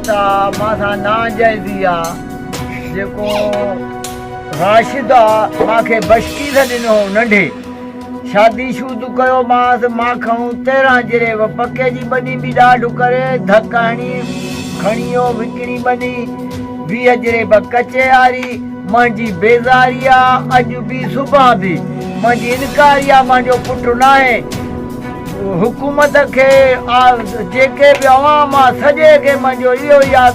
ته مان سان ناجائزي آ جيڪو راشد آ مان کي بشڪيس ڏنو هو ننڍي شادي شود ڪيو مانس مان کڻون تيرهن جري و پڪي جي ٻني به ڏاڍ ڪري ڌڪ هڻي کڻي و وڪڻي ٻني ويهه جري به ڪچي آري منهنجي بيزاري آ اڄ به صبح به منهنجي انڪاري آ منهنجو پٽ ناهي. حڪومت کي آء جيڪي به عوام آء سڄي کي منهنجو اهو ئي آء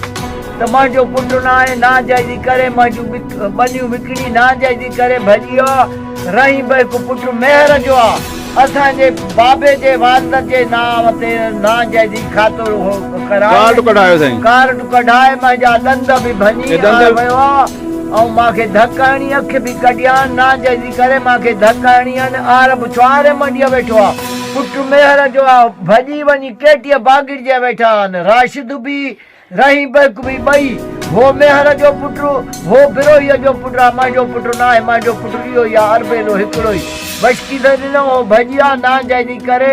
ته منهنجو پٽ ناهي ناجائزي ڪري منهنجون ٻنيون وڪڻي ناجائزي ڪري ڀڄي آء رحيم به هڪ پٽ مهر جو آء اسان جي بابي جي والدت جي نانء تي ناجائزي کاتو هو ڪرايو ڪارڊ ڪڍايو سائين ڪارڊ ڪڍائي منهنجا ڏند به ڀڃي آء ويو آء. ائون مان کي ڌڪ هڻي اک به ڪڍيان ناجائزي ڪري مان کي ڌڪ هڻي ان آر به ڇوهاري منڊيء ويٺو آ پٽ ميهر جو آ ڀڄي وڃي ڪيٽيء باگڙ جي ويٺا آن راشد به رحيم بيڪ به ٻئي هو ميهر جو پٽ هو بروهيء جو پٽ آ منهنجو پٽ ناهي منهنجو پٽ اهو ئي آ اربيلو هڪڙو ئي وشڪيدر ڏنو هو ڀڄي آ ناجائزي ڪري